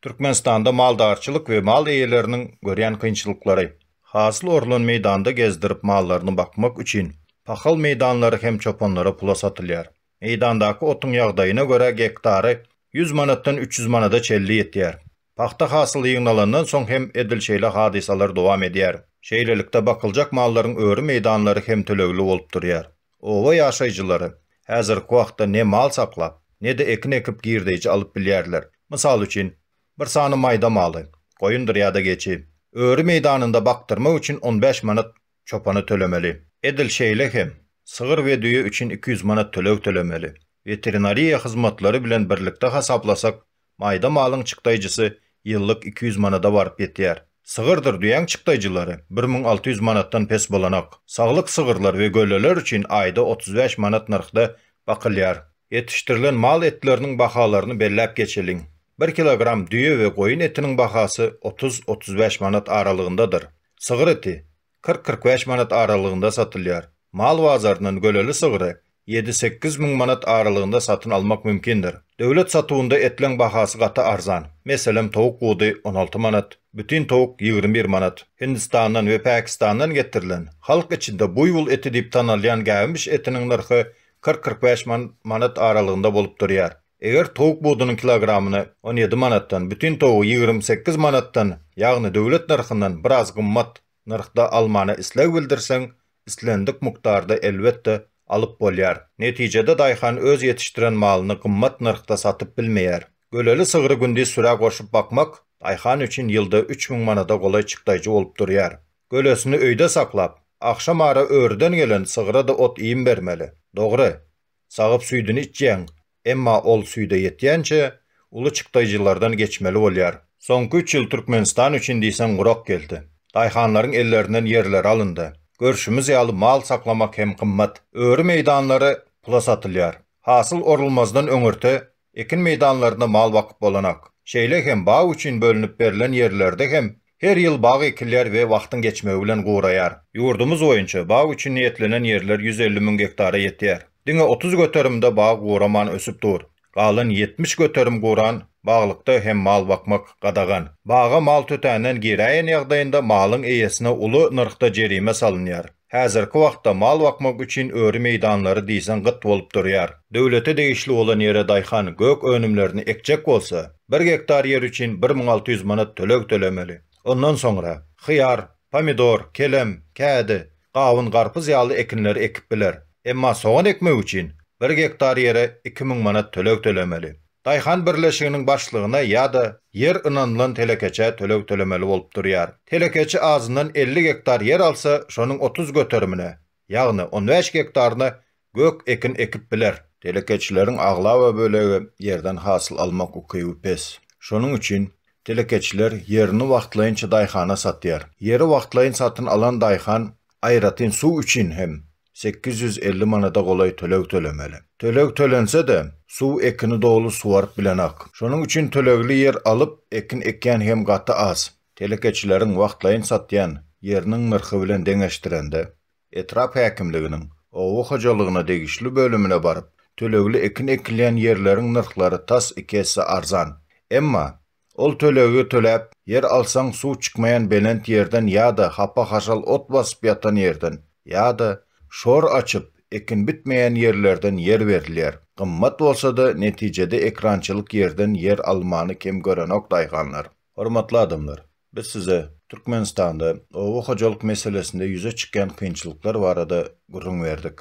Türkmenistanda maldarçylyk we mal eýeleriniň görýän kynçylyklary. Hasyl orlan meýdanda gezdirip mallaryny bakmak üçin pahal meýdanlary hem çopanlara pula satylýar. Meýdandaky otuň ýagdaýyna görä gektary ýüz manatdan üç ýüz manada çenli ýetýär. Pagta hasyly ýygnalandan soň hem edil şeýle hadysalar dowam edýär. Şeýlelikde bakyljak mallaryň öri meýdanlary hem tölegli bolup durýar. Oba ýaşaýjylary häzirki wagtda ne mal saklap, ne-de ekin ekip girdeýji alyp bilýärler. Mysal üçin, bir sany maýda maly, goýundyr ýa-da geçi, öri meýdanynda bakdyrmak üçin on bäş manat çopana tölemeli. Edil şeýle hem, sygyr we düýe üçin iki ýüz manat töleg tölemeli. Weterinariýa hyzmatlary bilen birlikde hasaplasak, Maýda malyň çykdaýjysy ýyllyk iki ýüz manada baryp ýetýär. Sygyrdyr düýäň çykdaýjylary bir müň alty ýüz manatdan pes bolanok. Saglyk sygyrlar we gölleler üçin aýda otuz bäş manat nyrhda bakylýar. Ýetişdirilen mal etleriniň bahalaryny belläp geçeliň. Bir kilogram düýe we goýun etiniň bahasy otuz-otuz bäş manat aralygyndadyr. Sygyr eti, kyrk-kyrk bäş manat aralygynda satylýar. Mal bazaryndan göleli sygry ýedi-sekiz müň manat aralygynda satyn almak mümkindir. Döwlet satuwynda etleň bahasy gaty arzan. Meselem, towuk budy on alty manat, bütin towuk ýigrimi bir manat. Hindistandan we Pakistandan getirilen, halk içinde buýbul eti diýip tanalýan gäwmiş etiniň nyrhy kyrk-kyrk bäş man manat aralygynda bolup durýar. Eger towuk budunyň kilogramyny on ýedi manatdan, bütin towugy ýigrimi sekiz manatdan, ýagny döwlet nyrhyndan biraz gymmat nyrhda almana isleg bildirseň, islendik mukdarda elbetde alyp bolýar. Netijede daýhan öz ýetişdiren malyny gymmat nyrhda satyp bilmeýär. Göleli sygry gündiz sürä goşup bakmak daýhan üçin ýylda üç müň manada golaý çykdaýjy bolup durýar. Gölesini öýde saklap, agşamara örüden gelen sygra-da ot-iým bermeli. Dogry, Sagyp süýdüni içýäň, emma ol süýde ýetýänçä uly çykdaýjylardan geçmeli bolýar. Soňky üç ýyl Türkmenistan üçin diýseň gurak geldi. Daýhanlaryň ellerinden ýerleri alyndy. Görşümiz ýaly mal saklamak hem gymmat. Öri meýdanlary pula satylýar. Hasyl orulmazdan öňürti Ekin meýdanlaryna mal bakyp bolanak. Şeýle hem bag üçin bölünip berlen ýerlerde hem her ýyl bag ekilýär we wagtyň geçmegi bilen guraýar. Ýurdumyz boýunça bag üçin niýetlenen ýerler ýüz elli müň gektara ýetýär. Diňe otuz göterimde bag guraman ösüp dur. Galan ýetmiş göterim guran baglykda hem mal bakmak gadagan. Baga mal tötänden giräýen ýagdaýynda malyň eýesine uly nyrhda jerime salynýar. Häzirki wagtda mal bakmak üçin öri meýdanlary diýseň gyt bolup durýar. Döwlete degişli bolan ýere daýhan gök önümlerini ekjek bolsa, bir gektar ýer üçin bir müň alty ýüz manat töleg tölemeli. Ondan soňra, hyýar, pomidor, kelem, kädi, gawun, garpyz ýaly ekinleri ekip biler. Emma sogan ekmek üçin bir gektar ýere iki müň manat töleg tölemeli. Daýhan birleşiginiň başlygyna ýa-da ýer ynanylan telekeçä töleg tölemeli bolup durýar. Telekeçi azyndan elli gektar ýer alsa, şonuň otuz göterimine, ýagny on bäş gektaryna gök ekin ekip biler. Telekeçileriň aglaba bölegi ýerden hasyl almak ukyby pes. Şonuň üçin telekeçiler ýerini wagtlaýynça daýhana satýar. Ýeri wagtlaýyn satyn alan daýhan aýratyn suw üçin hem sekiz ýüz elli manada golaý töleg tölemeli. Töleg tölense-de, suw ekini doly suwaryp bilenok. Şonuň üçin tölegli ýer alyp, ekin ekýän hem gaty az. Telekeçileriň wagtlaýyn satýan ýeriniň nyrhy bilen deňeşdirende, etrap häkimliginiň oba hojalygyna degişli bölümine baryp, tölegli ekin ekilýän ýerleriň nyrhlary tas iki esse arzan. Emma, Ol tölegi töläp, ýer alsaň suw çykmaýan belent ýerden ýa-da hapa-haşal ot basyp ýatan ýerden, ýa-da, şor açyp, ekin bitmeýän ýerlerden ýer berilýär. Gymmat bolsa-da, netijede ekrançylyk ýerden ýer almany kem görenok daýhanlar. Hormatly adamlar! Biz size Türkmenistanda oba hojalyk meselesinde ýüze çykýan kynçylyklar barada gürrüň berdik.